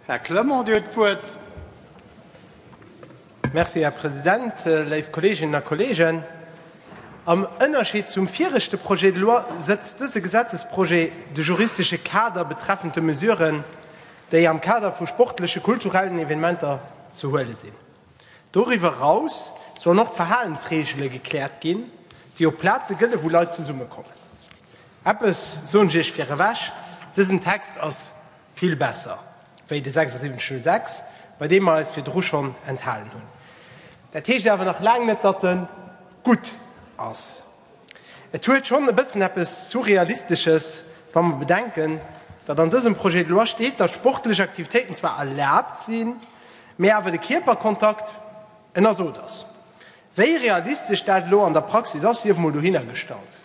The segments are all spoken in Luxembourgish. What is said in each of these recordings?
Här Clement, Dir hutt d'Wuert. Merci, Här President. Léif Kolleeginnen a Kolleegen, am Ënnerscheed zum viregte Projet de loi setzt dëse Gesetzesprojet de juristesche Kader betreffend de Mesuren, déi am Kader vu sportleche, kulturellen Evenementer ze huele sinn, Doriwwer eraus sollen och d'Verhalensreegele gekläert ginn, déi op Plaze gëllen, wou Leit zesummekommen. Eppes soen ech Iech virewech, Dësen Text ass vill besser wéi de 7606, bei deem mer eis virdru schonn enthalen hunn. Dat heescht awer nach laang net, datt e gutt ass. Et huet schonn e bëssen eppes Surrealistesches, wa mer bedenken, datt an dësem Projet de loi steet, datt sportlech Aktivitéiten zwar erlaabt sinn, mä awer de Kierperkontakt ënnersot ass. Wéi realistesch dat elo an der Praxis ass, sief emol dohinnergestallt.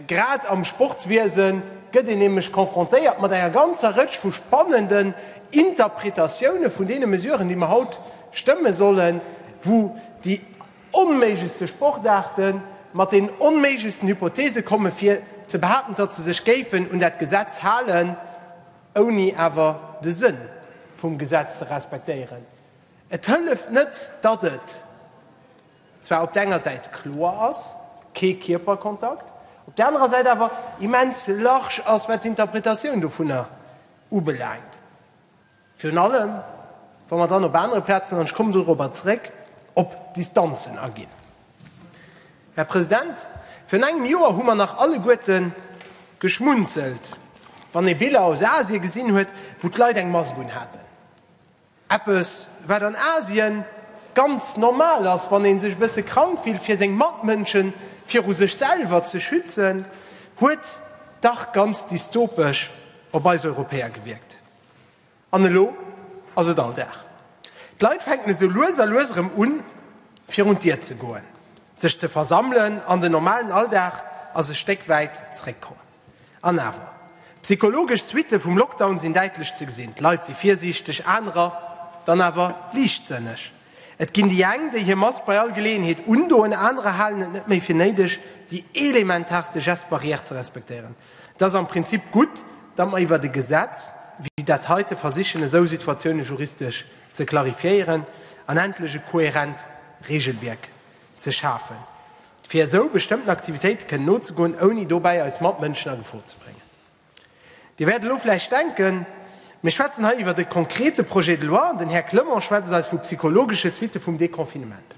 Grad am Sportswiese gëtt een nämlech konfrontéiert mat enger ganzer Rëtsch vu spannenden Interpretatioune vun deene Mesuren, déi mer haut stëmme sollen, wou déi, onméiglechste Sportaarten, mat den onméiglechsten Hypothese komme fir ze behaapten, datt se sech géifen un dat Gesetz halen, ouni awer de Sënn vum Gesetz ze respektéieren. Et hëlleft net, datt et zwar op der enger Säit kloer ass, kee Kierperkontakt, op der anerer Säit awer immens large ass, wat d'Interpretatioun dovunner ubelaangt. Virun allem, wa mer dann op anere Plazen, an ech kommen dorobber zeréck, op Distanzen aginn. Här President, virun engem Joer hu mer nach alleguerte geschmunzelt, wann ee Biller aus Asien gesinn huet, wou d'Leit eng Mask unhaten. Eppes, wat an Asien ganz normal ass, wann ee sech e bësse krank fillt, fir seng Matmënsche viru sech selwer ze schützen, huet dach ganz dystopesch op eis Europäer gewierkt. An elo ass et Alldag. D'Leit fänken esou lues a lues erëm un, virun d'Dier ze goen, sech ze versammelen an den normalen Alldag ass e Stéck wäit zeréckkomm. An awer, Psychologesch Suitte vum Lockdown sinn däitlech ze gesinn, d'Leit si virsiichteg, anerer dann awer liichtsënneg. Et ginn déi eng, déi hir Mask bei all Geleeënheet undoen, anerer halen et net méi fir néideg, déi elementaarste Geste barrière ze respektéieren. Et ass am Prinzip gutt, datt mer iwwert e Gesetz wéi dat heite versichen esou Situatioune juristesch ze clarifiéieren an endlech e kohärent Regelwierk ze schafen, fir esou bestëmmten Aktivitéite kënnen nozegoen, ouni dobäi eis Matmënschen a Gefor ze bréngen. Dir wäert elo vläicht denken, mir schwätzen hei iwwert e konkrete Projet de loi an den Här Clement schwätzt eis vu psychologesche Suitte vum Deconfinement.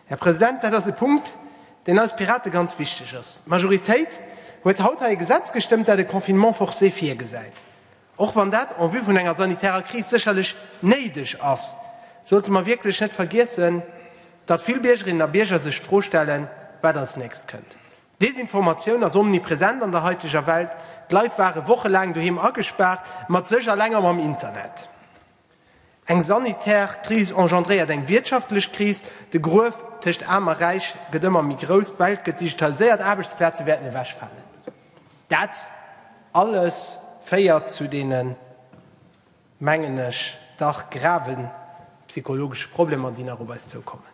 Här President, dat ass e Punkt, deen eis Pirate ganz wichteg ass. D'Majoritéit huet haut hei e Gesetz gestëmmt, dat e Confinement forcé virgesäit. Och wann dat en vue vun enger sanitärer Kris sécherlech néideg ass, sollte mer wierklech net vergiessen, datt vill Biergerinnen a Bierger sech d'Fro stellen, wat als nächst kënnt. D'Desinformatioun ass omnipresent an der haiteger Welt. D'Leit ware wochelaang doheem agespaart, mat sech eleng a mam Internet. Eng sanitär Kris engendréiert eng wirtschaftlech Kris, de Gruef tëscht Aarm a Räich gëtt ëmmer méi grouss, d'Welt gëtt digitaliséiert, Aarbechtsplaze wäerten ewechfalen. Dat alles féiert zu deene, mengen ech, dach grave psychologesche Problemer, déi nach op eis zoukommen.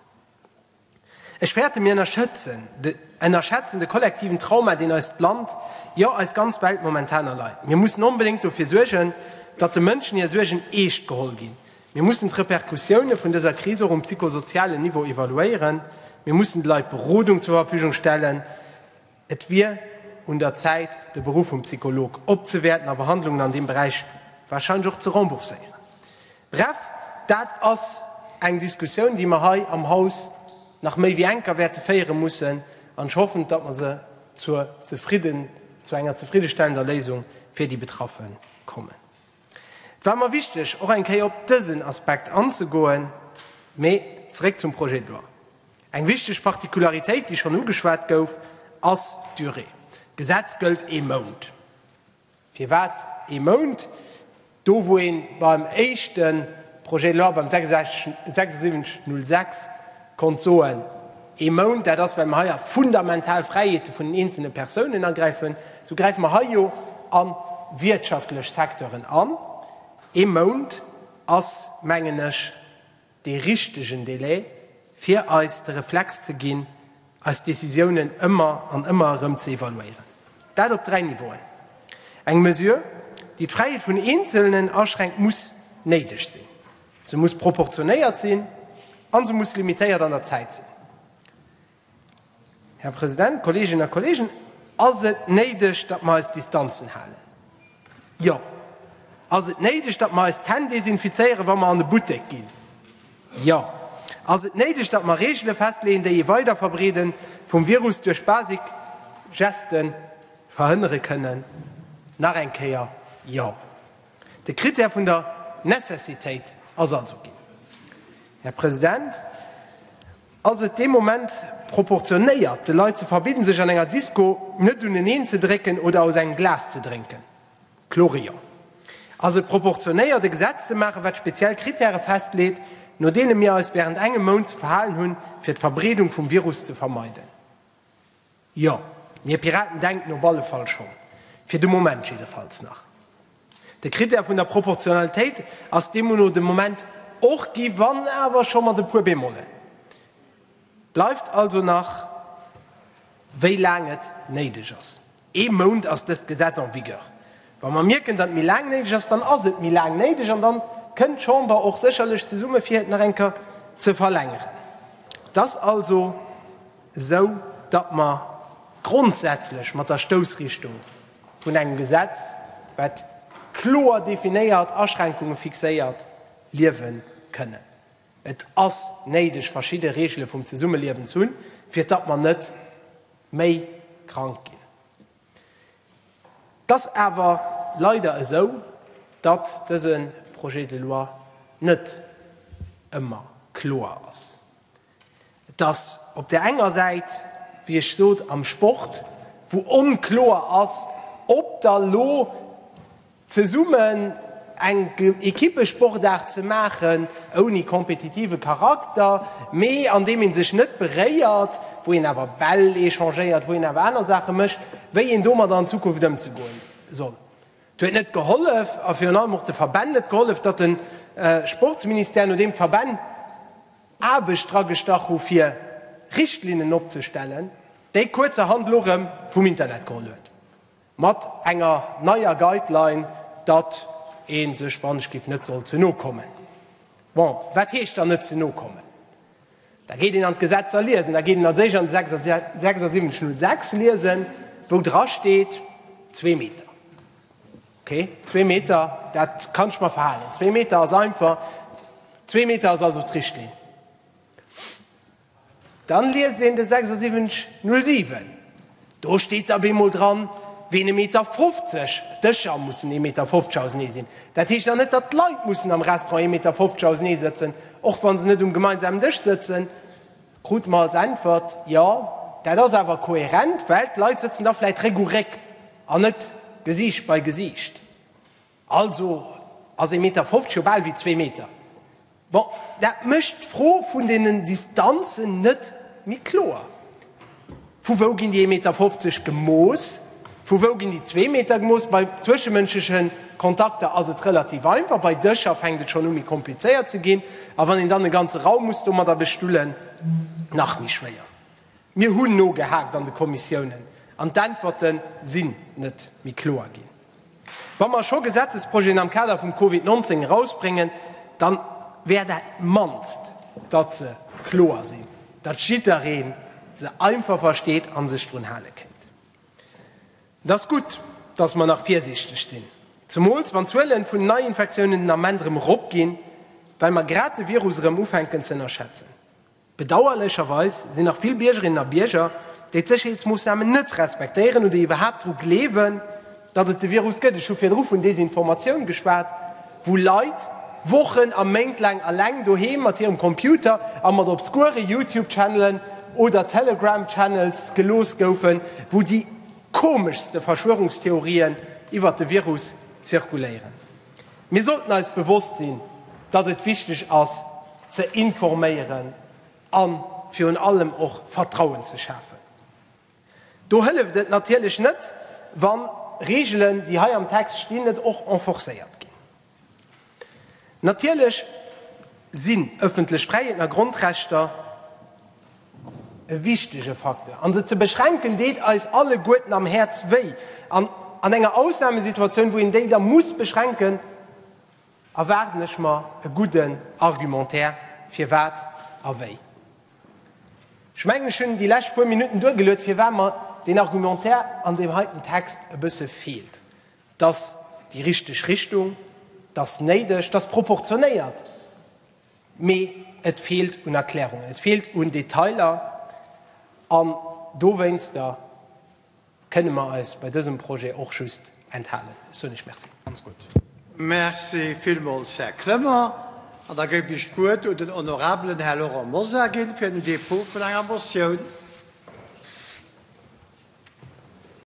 Ech fäerten, mir ënnerschätzen de kollektiven Trauma, deen eist Land, jo eis ganz Welt momentan erleit. Mir mussen onbedéngt dofir suergen, datt de Mënschen hir Suergen eescht geholl ginn. Mir mussen d'Repercussiounen vun dëser Kris och um psychosozialen Niveau evaluéieren. Mir mussen de Leit Berodung zur Verfügung stellen. Et wier un der Zäit, de Beruff vum Psycholog opzewäerten a Behandlungen an deem Beräich warscheinlech och ze rembourséieren. Bref, dat ass eng Diskussioun, déi mer hei am Haus nach méi wéi enker wäerte féiere mussen, an ech hoffen, datt mer se zur zefridden, zu enger zefriddestellender Léisung fir déi Betraffe kommen. Et war mer wichteg, och eng Kéier op dësen Aspekt anzegoen. Mee zeréck zum Projet de loi. Eng wichteg Particularitéit, déi schonn ugeschwat gouf, ass d'Durée. D'Gesetz gëllt ee Mount. Firwat ee Mount, do wou ee beim éischte Projet de loi, beim 7606, konnt soen, Ee Mount, dat ass, well mer hei a fundamental Fräiheete vun den eenzelne Persounen agräifen, esou gräife mer hei jo a wirtschaftlech Secteuren an. Ee Mount ass, mengen ech, dee richtegen Delai, fir eis de Reflex ze ginn, eis Décisiounen ëmmer an ëmmer erëm ze evaluéieren. Dat op dräi Niveauen. Eng Mesure, déi d'Fräiheet vun Eenzelnen aschränkt, muss néideg sinn. Se muss proportionéiert sinn a se muss limitéiert an der Zäit sinn. Här President, Kolleeginnen a Kolleegen, ass et néideg, datt mer eis Distanzen halen? Jo. Ass et néideg, datt mer eis d'Hänn desinfizéieren, wa mer an e Buttek ginn? Jo. Ass et néideg, datt mer Reegele festleeën, déi ee Weiderverbreede vum Virus duerch basic Gesten verhënnere kënnen? Nach eng Kéier, Jo. De Krittär vun der Necessitéit ass also ginn. Här President, ass et dee Moment proportionéiert, de Leit ze verbidden, sech an enger Disko net uneneen ze drécken oder aus engem Glas ze drénken? Klorion. Ass et proportionéiert, e Gesetz ze maachen, wat speziell Krittäre festleet, no deene mir eis während engem Mount ze verhalen hunn, fir d'Verbreedung vum Virus ze vermeiden? Jo, mir Piraten denken op alle Fall schonn, fir de Moment jiddefalls nach. De Krittär vun der Proportionalitéit ass deemno de Moment och gi, wann awer scho mat e puer Bémolen. Bleift also nach, wéi laang et néideg ass. Ee Mount ass dëst Gesetz en vigueur. Wa mer mierken, datt méi laang néideg ass, dann ass et méi laang néideg an da kënnt d'Chamber och sécherlech zesumme fir et nach eng Kéier ze verlängeren. Et ass also. esou datt mer grondsätzlech mat der Stoussrichtung vun engem Gesetz, wat kloer definéiert Aschränkungen fixéiert, liewen kënnen. Et ass néideg, verschidde Regele vum Zesummeliewen ze hunn, fir datt mer net méi krank ginn. Et ass awer leider esou, datt dëse Projet de loi net ëmmer kloer ass. Et ass op där enger Säit, wéi ech sot, am Sport, wou onkloer ass, ob da lo zesummen eng Equippesportaart ze maachen, ouni kompetitive Charakter, mee an deem ee sech net beréiert, wou een awer Bäll échangéiert, wou een awer aner Saache mécht, wéi een domadder an Zukunft ëmzegoen soll. Et huet net gehollef a virun allem och de Verbänn net gehollef, datt de Sportsministère, nodeem d'Verbänn Aarbecht dragestach hu fir Richtlinnen opzestellen, déi kuerzerhand elo erëm vum Internet geholl huet, mat enger neier Guideline, datt ee sech wann ech giff net soll ze no kommen. Bon, wat heescht dann net ze no kommen? Da geet een an d'Gesetzer liesen, da geet een als éischt an de 76 0 6 liesen, wou drasteet zwee Meter. Ok, zwee Meter, dat kann ech mer verhalen. Zwee Meter ass einfach. Zwee Meter ass also d'Richtlinn. Dann liest een de 7607. Do steet da bemol dran, ween e Meter 50, d'Dëscher mussen ee Meter 50 ausenee sinn. Dat heescht dann net, datt d'Leit mussen am Restaurant ee Meter 50 ausenee sëtzen, och wa se net um gemeinsamen Dësch sëtzen. Krute mer als Äntwert, Jo, dat ass awer koherent, well d'Leit sëtzen da vläicht Réck u Réck an net Gesiicht bei Gesiicht. Also ass ee Meter fofzeg jo bal ewéi zwee Meter. Bon, dat mécht d'Fro vun deenen Distanzen net méi kloer. Vu wou ginn déi 1,50 Meter gemooss? Vu wou ginn déi zwee Meter gemooss? Bei zwëschemënschleche Kontakter ass et relativ einfach. Bei Dëscher fänkt et schonn u méi komplizéiert ze ginn. A wann een dann e ganze Raum muss domadder bestullen, nach méi schwéier. Mir hunn nogehaakt an de Kommissiounen an d'Äntwerte si net méi kloer ginn. Wa mer scho Gesetzesprojeten am Kader vum Covid 19 erausbréngen, da wär dat mannst, datt se kloer sinn, datt jidderee se einfach versteet a sech drun hale kéint. Et ass gutt, datt mer nach virsiichteg sinn, zemools wann d'Zuele vun den Neiinfektiounen den Ament erëm eropginn, well mer grad de Virus erëm ufänken ze ënnerschätzen. Bedauerlecherweis sinn nach vill Biergerinnen a Bierger, déi d'Sécherheetsmoossnamen net respektéieren oder iwwerhaapt dru gleewen, datt et de Virus gëtt. Ech hu virdru vun Desinformatioun geschwat, wou Leit Wochen a Méint laang eleng doheem mat hirem Computer a mat obskure Youtube-Channelen oder Telegram-Channels gelooss goufen, wou déi komeschste Verschwörungstheorien iwwert de Virus zirkuléieren. Mir sollten eis bewosst sinn, datt et wichteg ass ze informéieren a virun allem och Vertrauen ze schafen. Do hëlleft et natierlech net, wa Reegelen, déi hei am Text stinn, net och enforcéiert ginn. Natierlech sinn ëffentlech Fräiheeten a Grondrechter. E wichtege Facteur. An se ze beschränken, deet eis alleguerten am Häerz wéi. An an enger Ausnamesituatioun, wou een déi da muss beschränken, erwaarden ech mer e gudden Argumentaire, firwat a wéi. Ech mengen, ech hunn déi lescht puer Minutten duergeluet, firwat mer deen Argumentaire an deem heiten Text e bësse feelt. 't ass déi richteg Richtung, 't ass néideg, 't ass proportionéiert, Mee et feelt un Erklärungen, et feelt un Detailer. An dowéinster kënnen mer eis bei dësem Projet och just enthalen. Ech soen Iech Merci. Merci villmools, Här Clement. An da géif ech d'Wuert un den honorabelen Här Laurent Mosar ginn, fir den Dépôt vun enger Motioun.